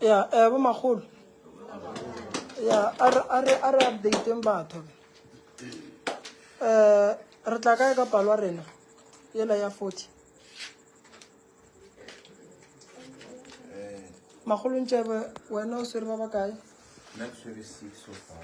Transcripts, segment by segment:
ya eh bo magolo ya a re a re a re updateng batho eh re tla kae ka palwa rena yela ya 40 magolo ntšebe wena o swere ba ba kae nna ke swere six so far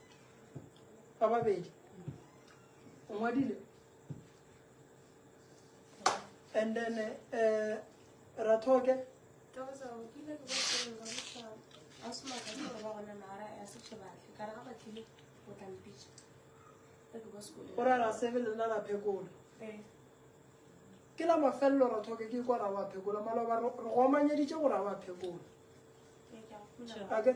ba babedi o ngwadile and then uh, rathoke o ra ra sebe lena ra phekola eh. ke la mafelelo rathoke ke kwa ra wa phekola maloba re go amanyeditše go ra wa phekola eh, ake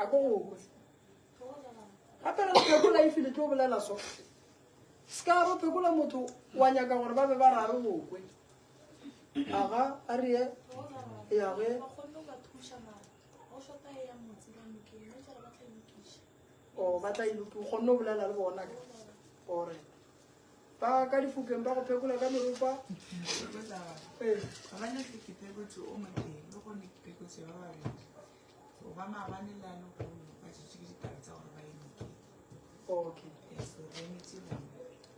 a ko go kwe gape re phekola e file tlo bolela so se ka ro phekola motho wa nyaka gore ba be ba rare go kwe aga a re ye yage o batla iloki o kgonne o bolela le bona ore ba ka difokeng ba go phekola ka meropa okay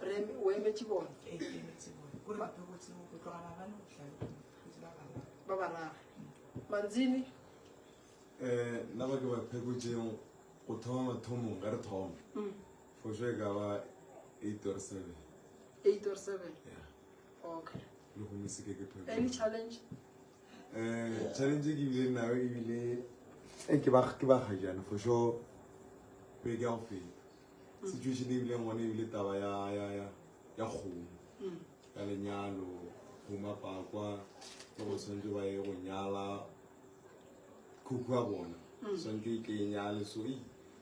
re o emetse bone ba barara manzini um nna ba ke ba phekotseng go thoma mathomong ka re thoma mm. For sure ka ba 8 or 7. 8 or 7? Yeah. Okay. Le go mise ke ke phela. Any challenge? Eh, challenge ke bile nayo e bile e eh, ke ba ke ba ga jana for sure. Be ke go fela. Mm. Situation e bile ngone e bile taba ya ya ya ya go. Mm. Ya lenyalo, go mapakwa, go go sentse ba ye go nyala. Khukwa bona. Mm. Sentse ke nyale so e.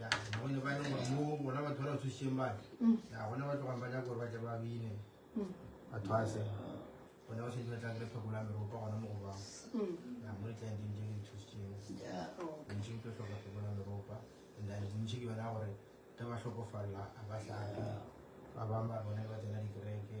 ya gone ba e leng gore mo bona batho ba ba tshositseng bane ya gone ba tlogang ba nyaka gore ba tle ba bine batho a se gone ba setse ba tlang le tlhokola meropa gona mo go bang ya mo ditlanteng tse di tshositseng bontši ke tlo tlhoka tlhokola meropa and then bontši ke bona gore ka ba tlhokofalela a ba tlhaga ba bangwe ba bone ba tsena dikereke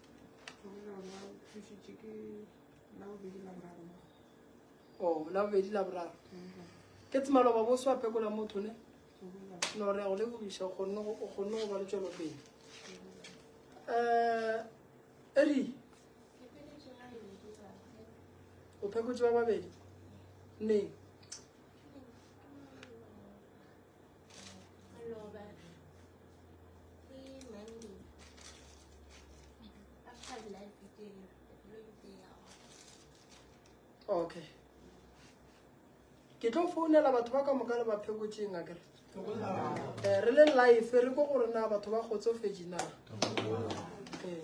o oh, la bobedi la boraro ke tsemaloba bo swa pekola motho ne no re go lebogiša o kgonne go ba le tšwelopele um eh, eri o phekotse ba babedi ne okay ke tlo founela batho ba ka moka le baphekotšeng a kere eh, re le life re ko gore na batho ba kgotsofetse na eh,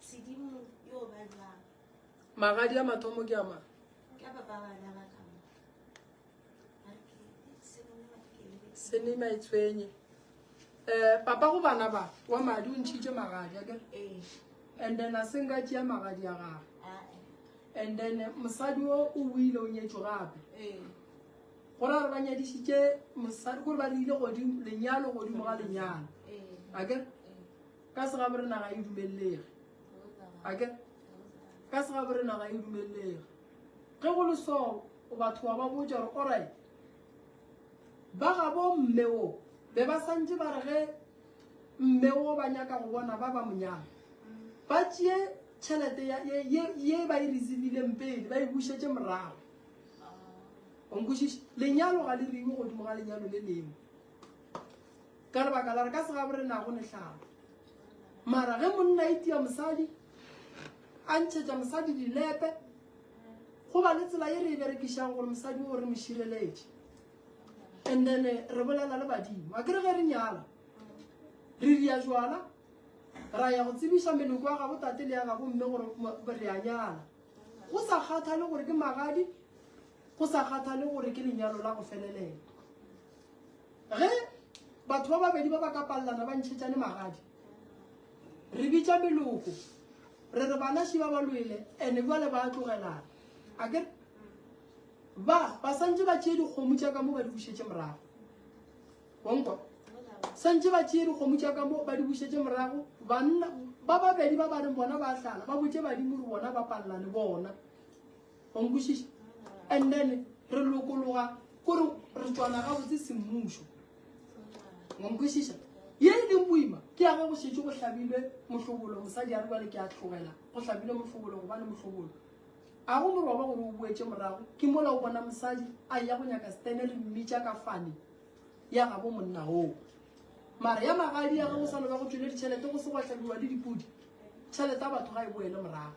Sedimo yo ba jwang? Magadi a mathomo ke a mang? Ke a papa bana ba ka mo. Senima e tshwenye. Eh, papa go bana ba wa madi o ntšhitše magadi ake eh. and then a seng ka tšea magadi a gage ah, eh. and then mosadi o o wile o nyetso gape eh. go ra re ba nyadišitše mosadi gore ba re ile godimo lenyalo godimo ga lenyalo ake Ka segabore naga e dumelelege. Ake ka segabore naga e dumelelege. Ge go le so o batho wa ba botša gore orai ba ga bo mme wo be ba santse ba re ge mme wo ba nyaka go bona ba ba monyana ba tšee tšhelete ye ba e receivile pele ba e bušetse morago onkwešiše lenyalo ga le riwe godimo ga lenyalo le lengwe Ka lebaka la re ka segabu re nago lehlaba. Mara ge monna a itia mosadi, a ntšhetša mosadi dilepe, go ba le tsela ye re e berekišang gore mosadi o re mo šireletše. And then eh, re bolela le badimo. A ke re ge re nyala, re ria jwala, ra ya go tsebiša meloko ya gabo tate le ya gabo mme gore mo- re a nyala. Go sa kgathale gore ke magadi, go sa kgathale gore ke lenyalo la go felelela. ge batho ba babedi ba ba ka palelana ba ntšhetšane magadi re bitša meloko re re bana šiba ba lwele ande jale ba tlogelana a ke ba ba santse ba tšee dikgomo tša ka mo ba di bušetse morago onkwa santse ba tšee dikgomo tša ka mo ba di bušetse morago banna ba babedi ba ba reng bona ba tlala ba botse badimo re bona ba palelane bona Wa nkwešiša? And then re lokologa kore re tswana gabotse semmušo. Wa nkwešiša? Ye e leng boima ke ya ge go šetše go hlabilwe mohlobolo, mosadi a re bjale ke a tlogela go hlabilwe mohlobolo gobane mohlobolo a go moroba gore o boetše morago ke mola o bona mosadi a ya go nyaka stene re mmitša ka fane ya gabo monna oo mare ya magadi ya ge go sa loba go tšwele ditšhelete go se go hlabiwa le dipodi tšhelete ya batho ga e boele morago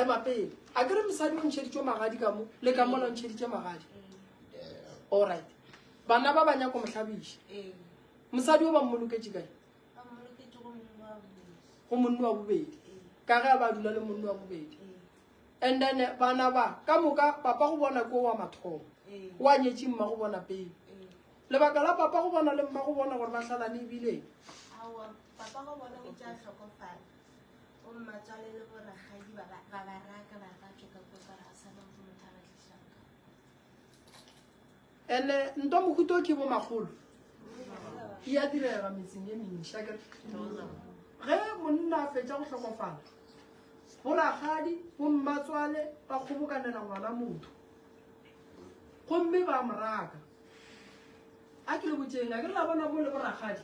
ema pele a kere mosadi o ntšheditšwe magadi ka mo le ka mo la ntšheditše magadi allright bana ba ba nyako mohlabiša mosadi o ba mmoloketše kae go monne wa bobedi ka ge ba dula le monne wa bobedi and then bana ba ka moka papa go bona ko wa mathomo wa nyetše mma go bona pele lebaka la papa go bona le mma go bona gore ba hlala le ebileng Go mmatswale le bo ragadi ba ba ba ba raka ba ka tšoka ko tswala a sa motho motho a ba tlisang ka. and eh, ntwa mohuta o ke bo magolo e ya direga metseng e mentšha kere ge monna a fetša go tlhokofala bo ragadi bo mmatswale ba kgobokanela ngwana motho gomme ba mo raka a ke le botšeng a ke la bona bo le boragadi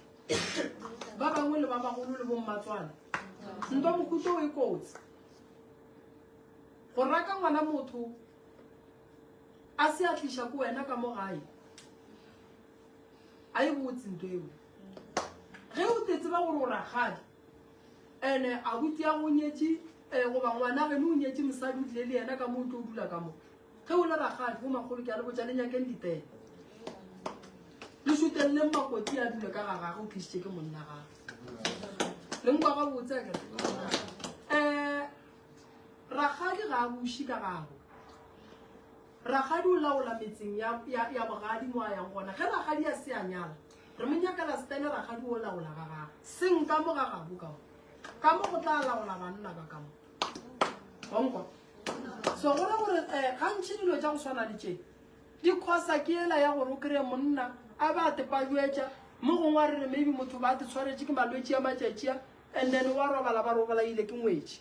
ba bangwe le ba bagolo le bommatswana nto mokuto o e kotsi go raka ngwana motho a se a tliša ko wena ka mo gae a e botse nto eo ge o te tseba gore o ragadi ene a butse ya go nyetše um goba ngwana geno o nyetše mosadi o tlile le yena ka mo o tlo o dula ka moo Ge o le rakgadi, bo magolo ke a le botša le nyakeng ditee. Le šuteleleng makoti a dule ka ga gage o tlišitše ke monna gage. Le nkwa ga botse ke eh rakgadi ga a buši ka gago. Rakgadi o laola metseng ya ya ya bogadi mo a yang gona. Ge rakgadi a se a nyala, re mo nyakela stene rakgadi o laola ga gage. Seng ka mo ga gabo ka mo. Ka mo go tla laola banna ba ka mo. onkwa so go ra gore um gantšhi dilo tša go swana le tše di khosa ke ela ya gore o kry-e monna a ba a tepajuetša mo gongwe a rere maybe motho ba a te tshwaretše ke malwetši ya matšatšia and then wa robala ba robalaile ke ngwetši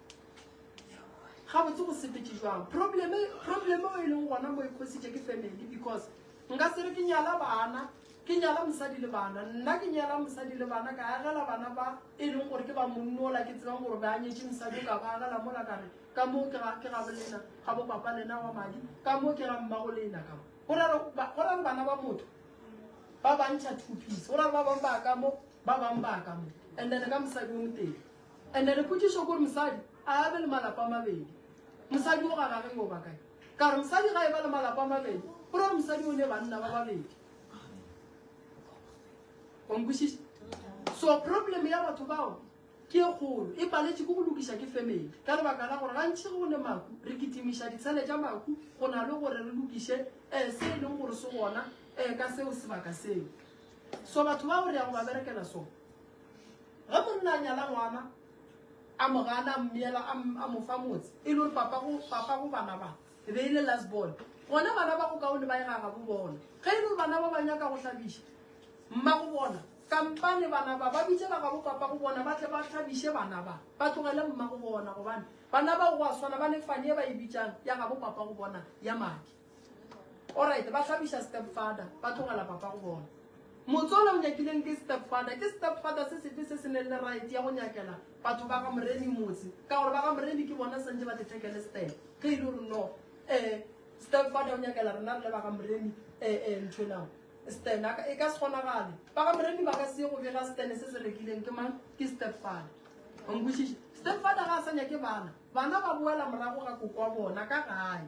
ga botse go sepetse jwang probleme probleme o e leng gona mo e khositše ke family because nka se re ke nyala bana ke nyala mosadi le bana nna ke nyala mosadi le bana ka agela bana ba e leng gore ke ba monnola ke tsebang gore ba nyetse mosadi o ka ba agela mola kare ka moo ke ga bolena ga bo papa lena wa madi ka moo ke ga mmago le ena ka mo go ra re bana ba motho ba bantšha two piece go ra re ba bang ba ka mo ba bang ba ka mo and then ka mosadi o motele Ene re potšišo kore mosadi a be le malapa a mabedi. Mosadi o gana ge o ba kae? Ka re mosadi ga e ba le malapa a mabedi, go ra gore mosadi o ne banna ba babedi. Wa nkwešiša? So problem ya batho bao ke e kgolo, e paletše ke go lokiša ke family. Ka lebaka la gore gantši go ne maku, re kitimiša ditshele tša maku go na le gore re lokiše um se e leng gore se gona um ka seo sebaka seo. So batho bao re ya go ba berekela so. Ge monna a nyala ngwana a mo gana a mmiela a mo fa motse e le gore papa go papa go bana ba e be e le last born gona bana ba go kaone ba e gaga bo bona ge e le gore bana ba ba nyaka go hlabiša mma go bona kampane bana ba ba bitsela ga bo papa go bona ba tle ba hlabiše bana ba ba tlogele mma go bona gobane bana ba go a swana ba ne fane e ba e bitsang ya ga bo papa go bona ya madi Alright, ba hlabiša stepfather, ba tlogela papa go bona. Motswala o nyakileng ke stepfather, ke stepfather se sefe se se neng le right ya go nyakela batho ba ga Moremi motse, ka gore ba ga Moremi ke bona santse ba dithekele step. Ge e le gore no, eh, stepfather o nyakela rena re le ba ga Moremi, eh, eh, ntho nao. Stan, e ka se kgonagale. Ba ga Moremi ba ka se go bega Stan se se rekileng ke mang? Ke stepfather. Onkwešiše? Stepfather ga a sa nyake bana. Bana ba boela morago ga koko wa bona ka gae.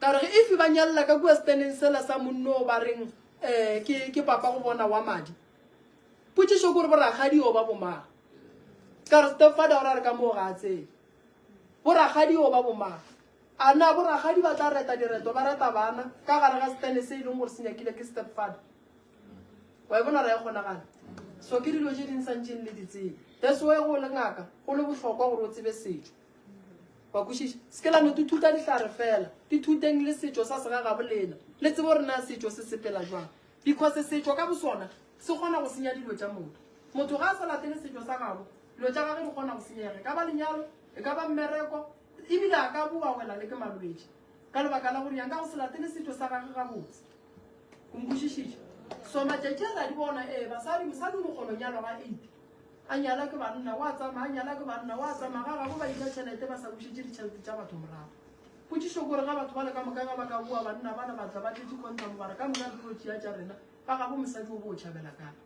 Ka re ge efe ba nyalela ka kua seteneng sela sa monno o ba reng um ke, ke papa go bona wa madi. Potšišo kore borakgadi o ba bomang? Ka re stepfather o ra re ka moo ga a tsebe. Borakgadi o ba bomang? A na borakgadi ba tla reta direto ba reta bana ka gare ga setene se e leng gore se nyakile ke stepfather? Wa e bona ra e kgonagala. So ke dilo tše di nsantšeng le di tsebe. That's why go le ngaka go le bohlokwa gore o tsebe setšo. wa kwešiša se ke la no tuthuta dihlare fela dithuteng le setšo sa segagabo lena le tsebo re na setšo se sepela jwang because setšo ka bosona se kgona go senya dilo tša motho motho ga a sa latele setšo sa gabo dilo tša gage di kgona go senyega e ka ba lenyalo e ka ba mmereko ebile a ka boa wela le ke malwetši ka lebaka la gore yang ka go se latele setšo sa gage gabotse o nkwešišitše so matšatši a la di bona ee basadi mosadi o mokgolonyalo ga eight a nyala ke banna wa tsamaya a nyala ke banna wa tsamaya ga gabo ba dija tšhelete ba sa bušetse ditšhelete tša batho morago potsišo kore ga batho ba le ka moka ga ba ka boa banna bana ba tla ba tletse contam bara ka moka dilo tšea tša rena ba gabo mosadi o bo o tšhabela kang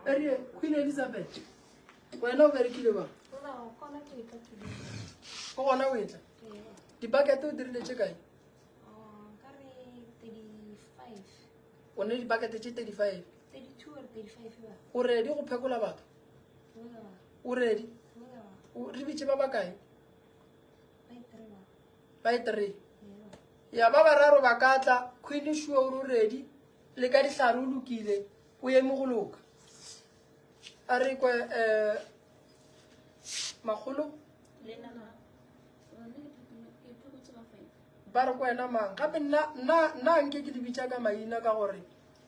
erie queen elizabeth wena o berekile ba o gona o etla dibakete o dirile tše kae o ne dipakete tše 35 o redi go phekola batho o redi re bitše ba bakae ba e three ya ba bararo ba ka tla queen sure o redi le ka dihlare o lokile o eme go loka a re kwe um makgolo Ba re, Ke wena mang? Gape nna, nna, nna nke ke le bitša ka maina ka gore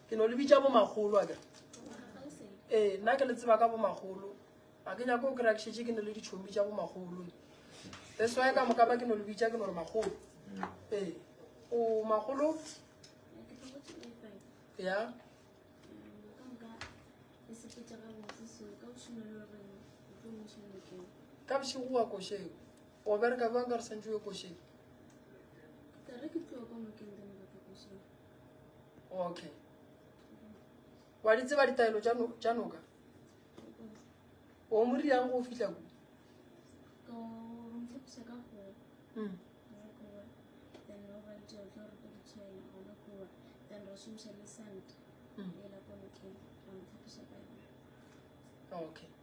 ke no le bitša bomagolo a kere. Ee, nna ke le tseba ka bomagolo. Ga ke nyako o kry-a ke šetše ke ne le ditšhomi tša bomagolo. That's why ka moka ba ke no le bitša ke no re magolo. Ee, o magolo? Ya. Ka bošego wa košeo. o bereka bjang ka re santse yo košeng okay wa di tseba ditaelo tša noka o mo riang go fitlha ku hmm. hmm. okay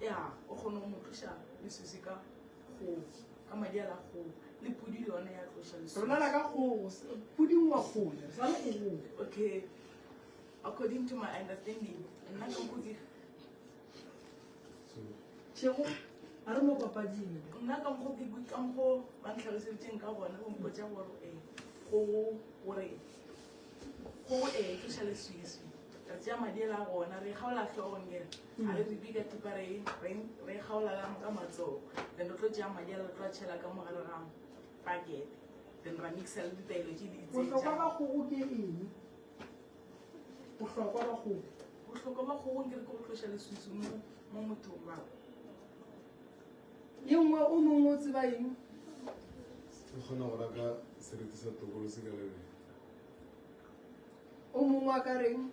ya o kgona go mo tloša lesose ka kgogo ka madi a la kgogo le pudi le yone ya tloša lesose re bolela ka kgogo s- puding wa kgogo re sa le kgogong okay according to my understanding nna ka mokgo ke tšhego a re mo papading nna ka mokgo ke ka mokgo ba ntlhaloseditseng ka gona go mpotsa gore e kgogo gore kgogo e tloša leswiswi re tsea madi a la gona re kgaola tlhogong kere a re re bika tipa re e kgaolalang ka matsogo then re tlo tšea madi a re tlo a tšhela ka mogare ga pakete then ra mixa le ditaelo tše di bohlokwa ba kgogo ke eng bohlokwa ba kgogo bohlokwa ba kgogo ke re ke go tloša lesusu mo mo mothong ba ye nngwe o mongwe o tseba eng o kgona go raka sereti sa tokolo se ka lebele o mongwe a ka reng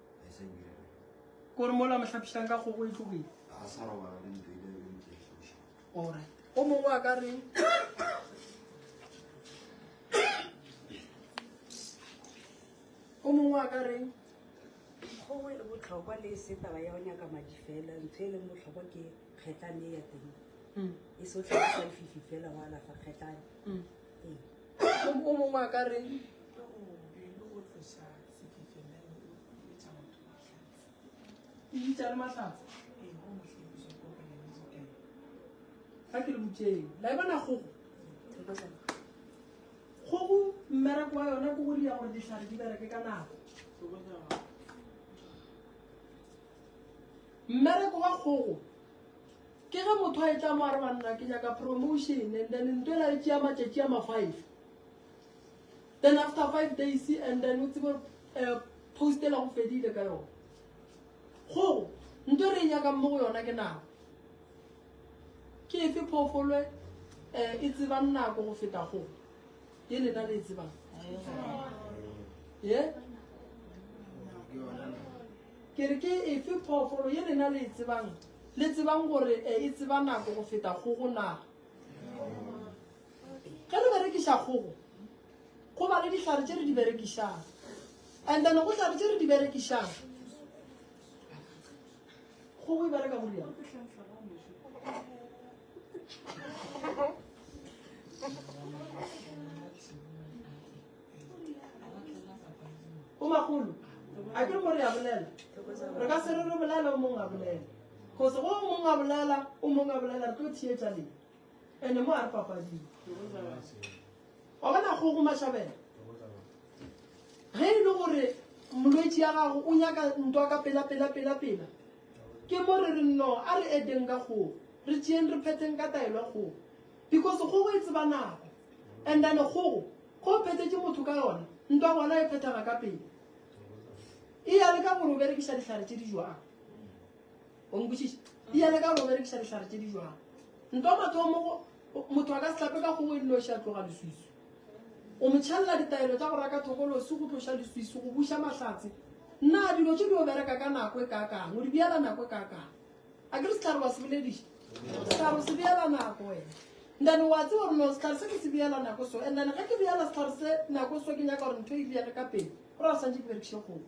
Ko re mola mohlapišang ka kgogo e tlogile. A sa robala le ntho ile le ntse hlapiša. Ora. O mongwe a ka reng? O mongwe a ka reng? Kgogo e botlhokwa le se taba ya go nyaka madi fela. Ntho e leng botlhokwa ke kgetlane ya teng. Mm. E se o tlhagisa lefifi fela wa alafa kgetlane. Mm. Ee. O mongwe a ka reng? kgogo mmereko wa yona ke go dira gore ditlhare di bereke ka nako mmereko wa kgogo ke ge motho a e tla mo a re banna ke nyaka promotion and then ntwela e tšea matšatši a mafive then after five days and then o tsebe eh, post ela go fedile ka yone go nto re e nyakang mo go yona ke nako ke efe phoofolwe um eh, e tsebang nako go feta go ye lena le e tsebang ye ke re ke efe phoofolo ye lena le e tsebang le tsebang gore eh, e tseba nako go feta go go naga Ge re berekiša kgogo, go ba le dihlare tše re di berekišang. And then go hlare tše re di berekišang. Kgogo e bereka go riana. Bomakgolo, a ke re mo re a bolela. Re ka se re re bolela o mongwe a bolela. Because go o mongwe a bolela, o mongwe a bolela, re tlo theetša leng. Ene mo a re papading. Wa bona go go mashabela. Ge e le gore molwetši ya gago o nyaka ntwa ka pela pela pela pela. Ke mo re re no a re edeng ka go re tšeng re phetheng ka taelo go. Because go go e tseba nako. And then go go phethetše motho ka yona ntwa gona e phethega ka pele. E ya le ka gore o berekiša dihlare tše di jwang. o nkwešiša ya le ka go berekiša dihlare tše di jwang nto mathomo motho a ka sehlape ka kgogo e dinoši a tloga leswiso o mo tšhelela ditaelo tša go raka thokolosi go tloša leswiso go buša mahlatse nna dilo tše di o bereka ka nako e kakang o di bjala nako e kakang a ke re setlhare wa se bolediša setlhare o se bjala nako wena ndane wa tse gore no setlhare se ke se bjala nako so andane ge ke bjala setlhare se nako so ke nyaka gore ntho e bjale ka pele gore a santse ke berekiše kgogo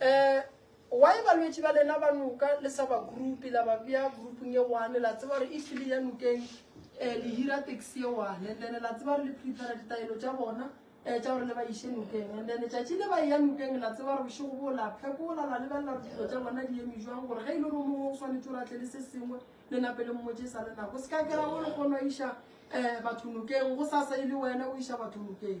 Eh, why balwetši ba lena ba noka le sa ba group la ba bea groupng ye one la tseba gore e tlile ya nokeng um le hira taxi ye one and then la tseba gore le prepare ditaelo tša bona um tša gore le ba iše nokeng and then tšatši le ba eya nokeng la tseba gore bošego bo la phekola la lebelela gore dilo tša bona di eme jwang gore ge e le gore mongwe o swanetse gore a tle le se sengwe le nape le mmotse sa le nako se ka kera go le kgono iša um batho nokeng go sasa e le wena o iša batho nokeng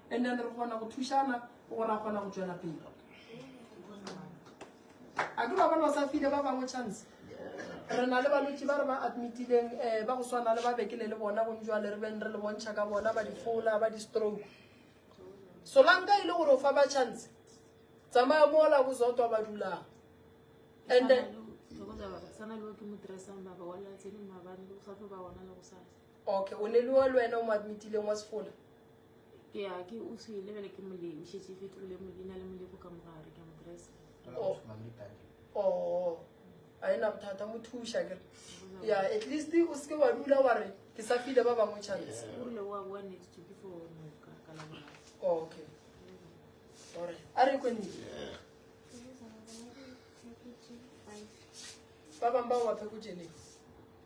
and then re kgona go thušana gore a kgona go tšwela pele a ke ba bona o sa file ba bangwe chance re na le balwetse ba re ba admitileng um ba go swana le ba bekele le bona go njwale re beng re le bontšha ka bona ba difola ba di-stroke solanka e le gore o fa ba chance tsamaya mola bozotwa ba dulang and then okay o ne le wa le wena o mo admitileng wa sefola ke ya ke o se ile bele ke molemo she se fetho le mo dina le molemo ka mogare ka mokrese oh oh a ena bothata mo thusha ke ya at least o se wa dula wa re ke sa file ba bangwe chance o rile wa wa next to before no ka ka la bona oh, okay ore a re ko nne ba bang ba wa phekutšeleng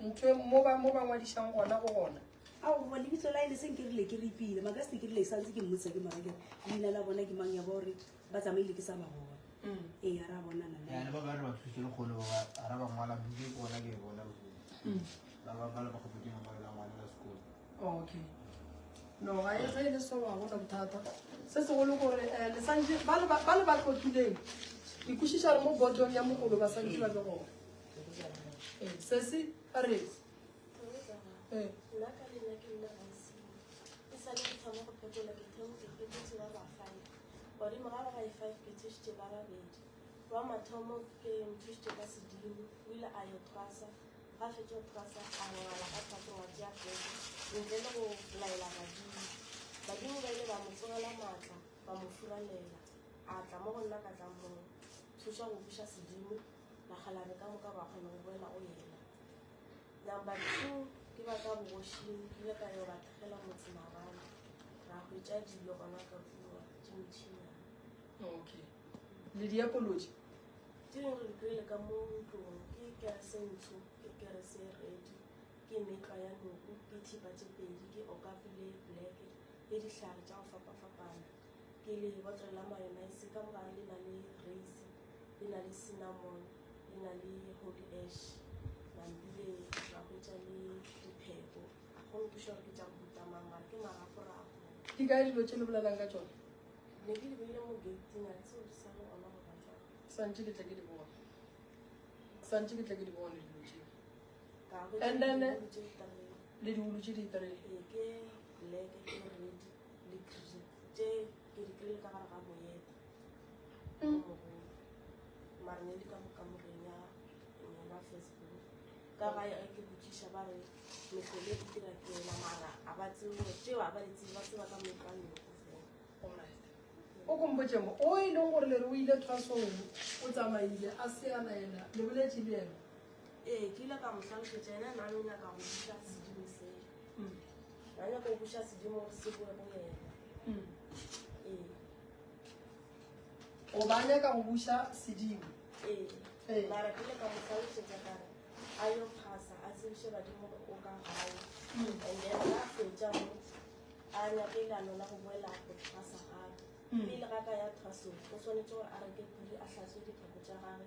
ntho mo ba mo ba ngwadišang gona go gona ao goba lebitso la e le seng ke rile ke repile maka se ke rile sa ntse ke mmotsa ke mara ke leina la bona ke mang ya ba gore ba tsamaile ke sa ba bona mm. ee ya ra bona na ya ba ba re ba thuse le golo ba ra ba ngwala buke ke bona ke bona mm. ba ba ba ba go buke mo la ngwana la sekolo okay no ga e ge e le so wa gona bothata se se golo gore eh, le santse ba le ba tlokileng ke kwešiša re mo bodong ya mogolo ba santse ba le gona sesi a re bone morago ga e-five ke thušitše ba babedi wa mathomo ke nthušitše ka sedimo o ile a yo thwasa ga fetše go thwasa a ngwala ka thwaso wa tšea pete ntle le go laela badimo badimo ba ile ba mo tsogela maatla ba mo furalela a tla mo go nna ka tla mo thuša go buša sedimo Nagalare ka moka ba kgona go boela go yena. Number two, ke ba ka bogošing ke ile ka yo ba tlogela motse mabane ra hwetša dilo gona ka kua dimotšhinana okay le diapoloji di re re kry-ile ka mo ntlong ke kerese ntsho ke kerese redi ke metlwa ya noku ke thipa tše pedi ke okapi le black le dihlare tša go fapafapana ke le botle la mayonise ka mogare le na le raise e na le cinnamon e na le holy ash mambile ba hwetša le diphepo go nkuša gore ke tša go butamang mara ke maraporapo ke ka dilo tše le bolelang ka tsone ne ke di beile mo gating a tseo di sa le ona go ba jang santse ke tla ke di bone santse ke tla ke di bone dilo tše and then le diulu tše di three ee, ke black ke red Likri tše ke di kry-ile ka gare ga moyete o mogolo mare ne di ka mo kamoreng ya ngwana facebook ka ga e ke botšiša ba re mehlole e dira ke yona mara a ba tsebo tšeo a ba di tsebe ba tseba ka mekwanoko o kompotse mo o e leng gore le re o ile trasong o tsamaile a se a laela le boletše le ena Ee, ke ile ka mo hlalošetša ena nane o nyaka go buša sedimo seo mm. na nyaka go buša sedimo gore se boe go yena mm. ee o ba nyaka go buša sedimo ee. ee mara ke ile ka mo hlalošetša kare a yo phasa a tsebiše badimo gore o ka gae mm. and then a fetša mo a nyake ilano la go boela go phasa gape pele ga ka ya thasong o swanetse gore a reke pudi a hlatswe diphako tša gage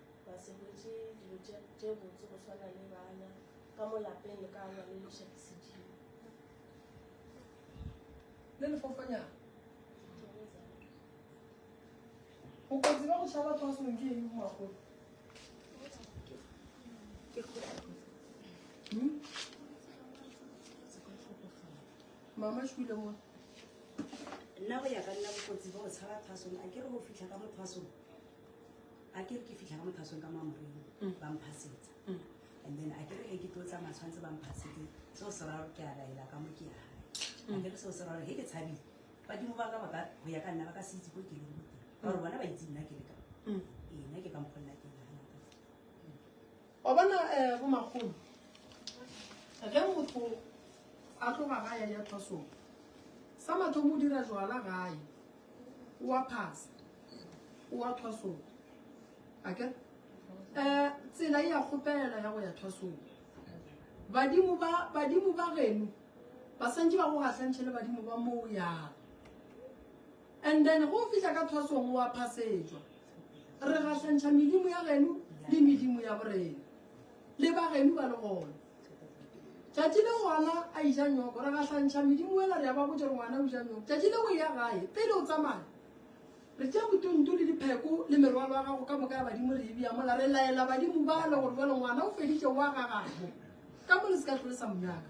Ba se hwetše dilo tše, tše botse go swana le bana ka mo lapeng le ka alwa le leša ke sedimo. Le lefofanyana. Bokotsi ba go tšha batho ba sengwe ke eng go magolo? Hmm? Mama šwile mo. Nna go ya ka nna bokotsi ba go tshaba phasong a ke re go fitlha ka mo phasong a ke re ke fitlha ka mo thasong ka mo amoreng mm. ba mphasetsa mm. and then a ke re ge ke tlo tsamaya tshwanetse ba mphasetse seo se raro ke a laela ka mo ke ya gae a ke re seo se raro ge ke tshabile badimo ba ka ba ka go ya ka nna ba ka se itse ko ke leng goteng ka gore bona ba itse nna ke le ka ee nna ke ka mokgonna ke Wa bona eh, bomakgolo ge motho a tloga ga ya ya thwasong sa mathomo o dira jwala gae o a phasa o a thwasong ake um tsela e ya kgopela ya go ya thwasong badimo ba badimo ba geno ba santse ba go gahlantšhe le badimo ba moo yang And then ge o fihla ka thwasong o a phasetšwa. Re gahlantšha medimo ya geno le medimo ya borena. Le ba geno ba le gona. Tšatši le ngwana a ija nyoko, re gahlantšha medimo wela re ya ba botša gore ngwana o ija nyoko. Tšatši le o ya gae, pele o tsamaya, re tšea botonto le dipheko le merwalo ya gago ka moka ya badimo re e bea mola, re laela badimo bale gore jwale ngwana o feditše wa gagabo. Ka mo le se ka hlole sa monyaka.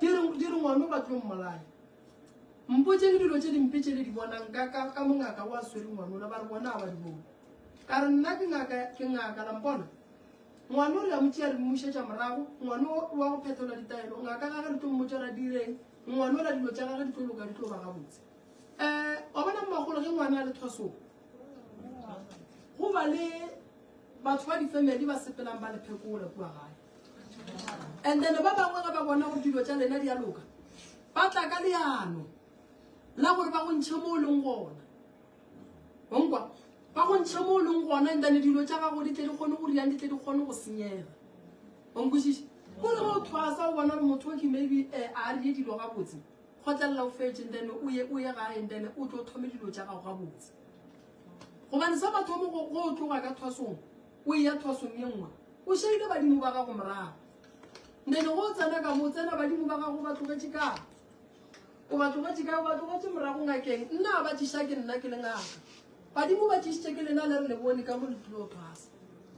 Ke re, ke re ngwano ba tlo mmolaya. Mpotseng dilo tše dimpe tše le di bonang ka, ka, ka mongaka o a swere ngwanola, ba re bona ba di bone. Ka re nna ke ngaka, ke ngaka, la mpona? Ngwano re a mo tšea re mmušetša morago, ngwano o wa go phetola ditaelo, ngaka gage re tlo mmotša ra direng, ngwanola dilo tša gage di tlo loka, di tlo ba gabotse. Eh, wa bona mmagolo ge ngwana a le thwasong, go ba le batho ba difemeli ba sepelang ba le phekola kua gae. and then ba bangwe ge ba bona go dilo tša lena di a loka ba tla ka leano la gore ba go ntšhe mo o leng gona onkwa ba go ntšhe mo o leng gona and then dilo tša gago di tle di kgone go riang di tle di kgone go senyega onkwešiše gore ge o thwasa o bona gore motho o ke maybe eh, a rie dilo gabotse kgotlelela o fetse and then o ye o ye gae and then o tlo thome dilo tša gago gabotse gobane sa mathomo go go tloga ka thwasong O eya thwasong ye nngwe. O šaile badimo ba gago morago. Ndene go tsena ka mo, tsena badimo ba gago ba tlogetše ka. O ba tlogetše ka, o ba tlogetše morago ngakeng. Nna ba tšiša ke nna ke le ngaka. Badimo ba tšišitše ke lena le re le bone ka mo le tlilo thwasa.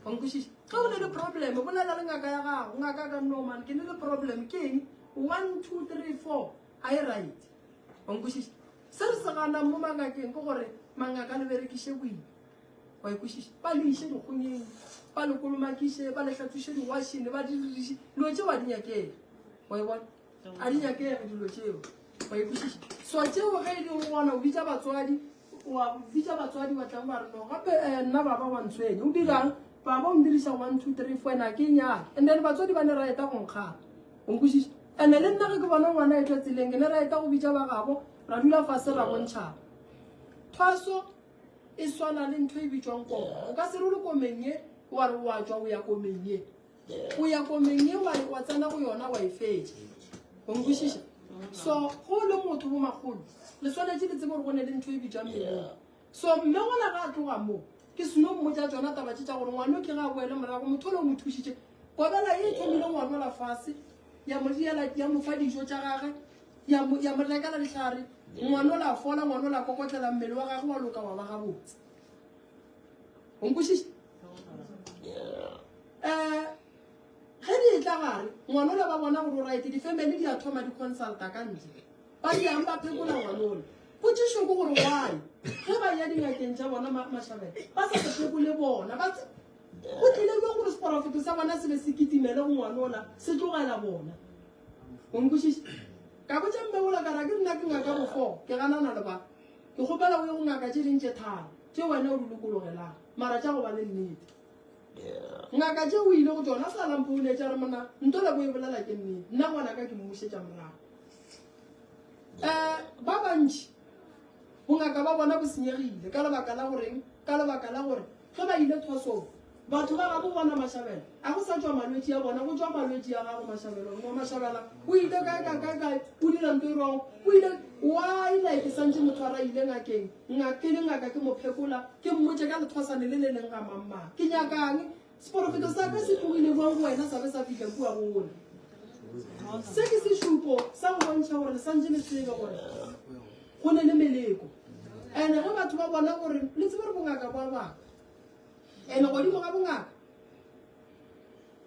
Wa nkwešiša? Ge o ne le problem, bolela le ngaka ya gago. Ngaka ka no man, ke ne le problem ke eng? One, two, three, four. A e right. Wa nkwešiša? Se re se ganang mo mangakeng ke gore mangaka le berekiše boima. wa ikwešiša ba le iše dikgonyeng ba le kolomakiše ba le hlathuše diwašene ba diririše dilo tšeo a di nyakega wa e bona a di nyakege dilo tšeo wa ikwešiša so tšeo ge e leng gona o bitsa batswadi wa bitsa batswadi ba tlang ba re no gape eh, nna baba wa ntshwene o dirang baba o ndirisa one two three four ena ke nyake and then batswadi ba ne ra eta go nkgana o nkwešiša and le nna ge ke bona ngwana etwa tseleng ke ne ra eta go bitsa ba gabo ra dula fase ra bontšhaba thaso E swana le ntho e bitšwang koma. O ka se re o le komeng ye wa re wa tšwa o ya komeng ye. O ya komeng ye wa wa tsena go yona wa e fetša. O nkwešiša? So go le motho bo magolo le swanetše le tsebe gore go ne le ntho e bitšwang melong. So mme gona ga a tloga moo ke seno mmotsa tsona taba tše tša gore ngwana o ke ga a boele morago motho o le o mo thušitše kobela ye e thomile ngwanola fase ya mo diela ya mo fa dijo tša gage Ya mo, ya mo lekala dihlare. Ngwana o la fola, ngwana o la kokotlela, mmele wa gagwe wa loka wa ba gabotse. O nkwešiša? Eh, ge di e tla gare, ngwana o la ba bona gore o right, di-family di a thoma di-consulta ka ntle. Ba di yang ba phekola ngwana o la. Potšišo ke gore why? Ge ba ya dingakeng tša bona ma- mašabela, ba sa se phekole bona. Ba tse- go tlile ke gore seporofeto sa bona se be se kitimele go ngwana o la, se tlogela bona. O nkwešiša? Ka botša Mmewola ka re, A ke nna ke ngaka bo fo? Ke ganana le ba. Ke kgopela o ye go ngaka tše ding tše tharo, tše wena o di lokologelang, mara tša go ba le nnete. Ngaka tše o ile go tšona, a sa la mpouletša a re, Monna, nto le bo e bolela ke nnete. Nna ngwanaka ke mmušetša morago. Um Ba bantši bongaka ba bona bo senyegile. Ka lebaka la goreng? Ka lebaka la gore ge ba ile thwasong, Batho ba gago bona Mashabela, a go sa tšwa malwetši a bona, go tšwa malwetši a gago Mashabela. Mma Mashabela, o ile kae, kae, kae, kae, o dira nto e rwago, o ile, why like ke santše motho a ra ile ngakeng, ngak, ke le ngaka ke mo phekola, ke mmotše ka lethwasane le le leng ga mamma, ke nyakang, seporofeto sa ka se tlogile bjang go wena sa be sa fihla kua go wona. Se ke sešupo sa go bontšha gore le santše le tsebe gore go ne le meleko. And ge batho ba bona gore le tsebe gore bongaka bo a baka. Ene godimo ga bongaka,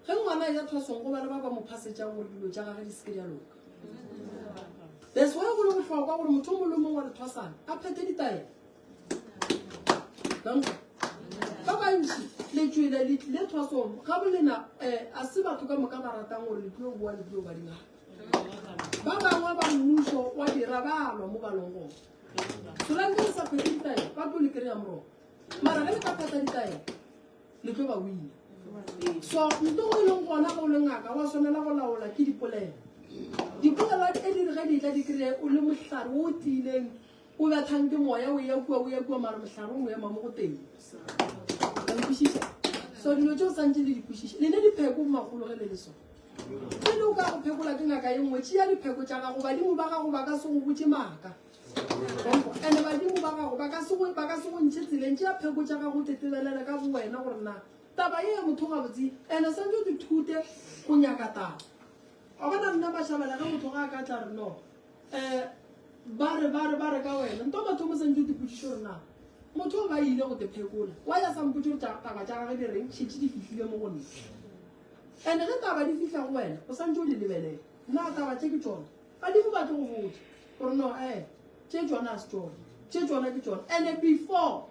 ge ngwana a ja thwasong go ba le ba ba mo phasetšang gore dilo tša gage di seke di a loka. That's why go le bohlokwa gore motho mongwe le mongwe wa lethwasana a phethe ditaelo. Ba bantši letswele le tlile thwasong ga bolena eh, a se batho ka moka ba ratang gore le tlo boa le tlo ba dingaka. Ba bangwe ba mmušo wa dira balwa mo balong gone. Solanke le sa phethe ditaelo ba tlo le kry-a moroko. mara ge le ka pata ditaelo le tlo ba wina so nto o e leng gona ga o le ngaka wa tshwanela go laola ke dipolelo dipolelo tse di re ge ditla di kry-e o le mohlare o tiileng o bethang ke moya o ya kua o ya kua mara mohlare o mo ema mo go teng kwešiša so dilo tse o santse le di kwešiša le ne dipheko magolo ge le le so pele o ka go phekola ke ngaka e nngwe tšea dipheko tša gago badimo ba gago ba ka se go botse maaka ene badimo ba gago ba ka se go ba ka se go ntshe tseleng tša pheko tša gago tetebelela ka bo wena gore na taba e motho ga botse ene sa ntse di thute go nyaka taba a bona nna ba shabela ga motho ga ka tla re no eh ba re ba re ba re ka wena nto batho mo sa ntse di putsitse gore na motho ba ile go te phekola wa ya sa mputse tsa taba tsa gagwe di reng shitse di fihlile mo go nna ene ge taba di fihla go wena o sa ntse o di lebelela nna taba tse ke tsone Ga di go batle go botša gore no e eh, tše tšona a se tšona tše tšona ke tšona ande before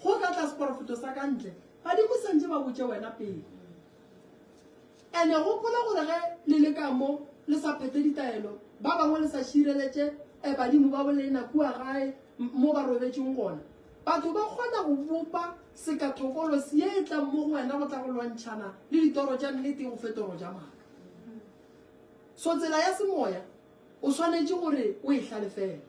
go tla tla seporofeto sa ka ntle badimo sentse ba botse wena pele ande gopola gore ge le le ka mo le sa phete ditaelo ba bangwe le sa šireletše e eh, badimo ba bolena kua gae mo ba robetseng gona batho ba kgona go bopa sekathokolo se e tlang mo go wena go tla go lwantšhana le ditoro tša nnete go fetoro ja maka So tsela ya semoya o swanetše gore o e hlalefele.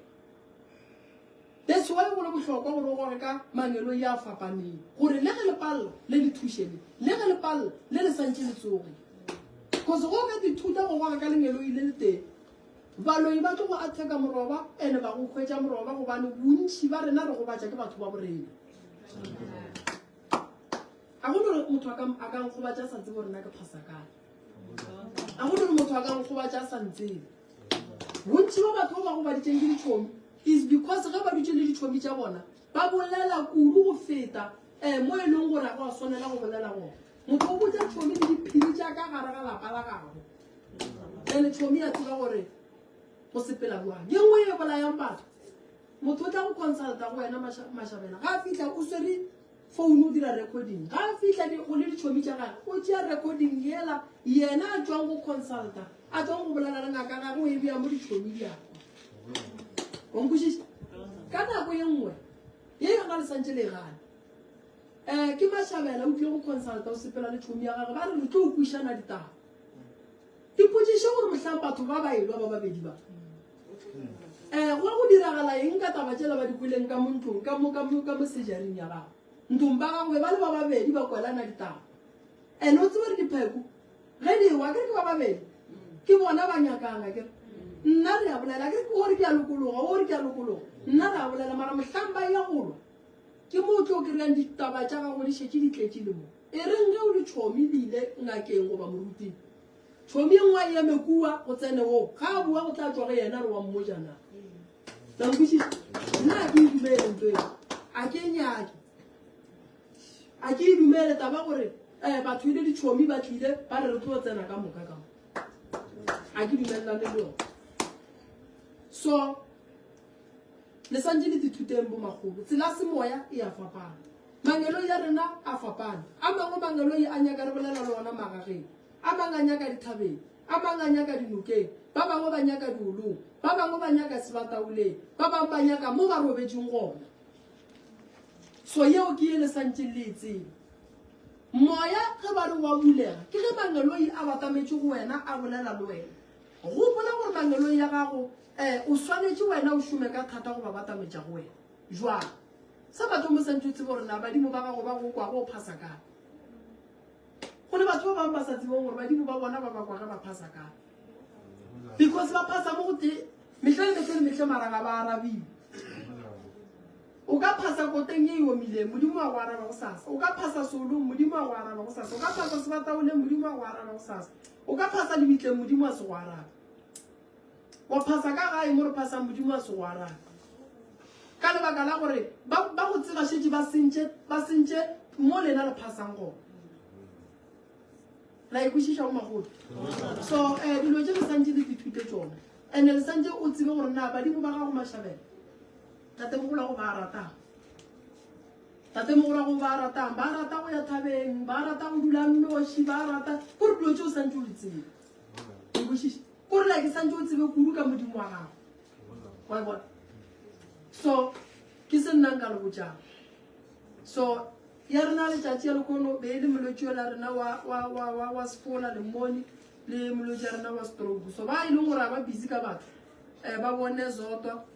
That's why go le bohlokwa gore o gore ka mangelong ya fapaneng gore le ge le palla le le thuše le le ge le palla le le santše le tsoge. Because go ka dithuta go gore ka lengeloi le le teng baloi ba tlo go atheka moroba ene ba go hwetša moroba gobane bontši ba rena re gobatša ke batho ba borena a go nore motho a ka nkgobatša sa tsebo rena ke phasa kae a go rere motho a ka gogobatša a sa ntsebe bontši ba batho ba ba gobaditseng ke ditšhomi is because ge ba dutse le ditšhomi tša bona ba bolela kudu go feta um mo e leng gore a go a swanela go bolela gona motho o botsa tšhomi le diphiri tša ka gare ga lapa la gago ene tšhomi ya tseba gore go sepela boang ye nngwe e bolayang batho motho o tla go consulta go wena mašabela ga a fitlha o swere Founu o dira recording. Ga a fihla di, go le ditšhomi tša gage, o tšea recording yela yena a tšwang go consulta, a tšwang go bolela le ngaka gage, o e bea mo ditšhomi di akwa. O nkwešiša? Ka nako ye nngwe, ye ga le santše le e gana. Eh, ke Mashabela o tlile go consulta, o sepela le tšhomi ya gage, ba re re tlo o kwišana ditaba. ipotšiše gore mohlang batho ba ba elwa ba babedi ba um go go diragala eng ka taba tšela ba di kweleng ka montlong ka mo sejaring ya gago ntlong ba gago be ba le ba babedi ba kwelana ditaba and o tsebare dipheko ge di ewa kere ke ba babedi ke bona ba nyakana kere nna re a bolela ke gore ke a lokologa gore ke a lokologa nna re a bolela mara mohlang ba ya golwa ke mo o tlo kry-ang ditaba tša gago di šetse di tletse le mo E reng ge o le tšhomi le ile ngakeng goba moruting, tšhomi e nngwe a eme kua go tsene wo, ga a bua go tla tšwa go yena re wa mmoja na. La nkwešiša? Nna a ke e dumele nto eo. A ke e nyake. A ke e dumele taba gore eh batho ile ditšhomi ba tlile ba re re tlo tsena ka moka ka mo. A ke dumelelane le yone. So le santse le dithuteng bo magolo. Tsela semoya e a fapana. Mangeloi a rena a fapane. A mangwe mangeloi a nyaka re bolela le ona magageng, a mang a nyaka dithabeng, a mang a nyaka dinokeng, ba bangwe ba nyaka diolong, ba bangwe ba nyaka sebataoleng, ba bangwe ba nyaka mo ba robetšeng gona. So yeo ke ye le santšeng le e tseba. Moya ge ba re wa bulega, ke ge mangeloi a batametše go wena a bolela le wena. Gopola gore mangeloi a gago um o swanetše wena o šome ka thata go ba batametša go wena. Jwang? Sa mathomo o santše o tseba gore na badimo ba gago ba go kwa go phasa kae. Go le batho ba bangwe ba sa tsebong gore badimo ba bona ba ba kwa ge ba phasa kae. Because ba phasa mo go te mehle le mehle le mehle mara ga ba arabiwe. O ka phasa koteng e omileng modimo a go araba go sasa. O ka phasa solong modimo a go araba go sasa. O ka phasa sebataoleng modimo a go araba go sasa. O ka phasa lebitleng modimo a se go araba. Wa phasa ka gae mo re phasang Modimo a se go arabe. Ka lebaka la gore ba ba go tseba shetse ba sentše ba sentše mo lena le phasang gone. La ikwešiša o magolo. So eh dilo tše re santše di dithute tsone. And le santše o tsebe gore na badimo ba gago mashabela. Tate mogolo go ba ratang. Tate mogolo go ba ratang. Ba rata go ya thabeng, ba rata go dula nnoši, ba rata gore dilo tše o santše o di tsebe. Ikwešiša. Ke gore like santse o tsebe kudu ka modimo wa gago wa e bona so ke se nnang ka lebojang so ya rena letšatši ya lekono be e le molwetši ola rena wa sefola le mmone le molwetši ya rena wa stroke so ba e leng gore ga ba busy ka batho um ba bone zotwa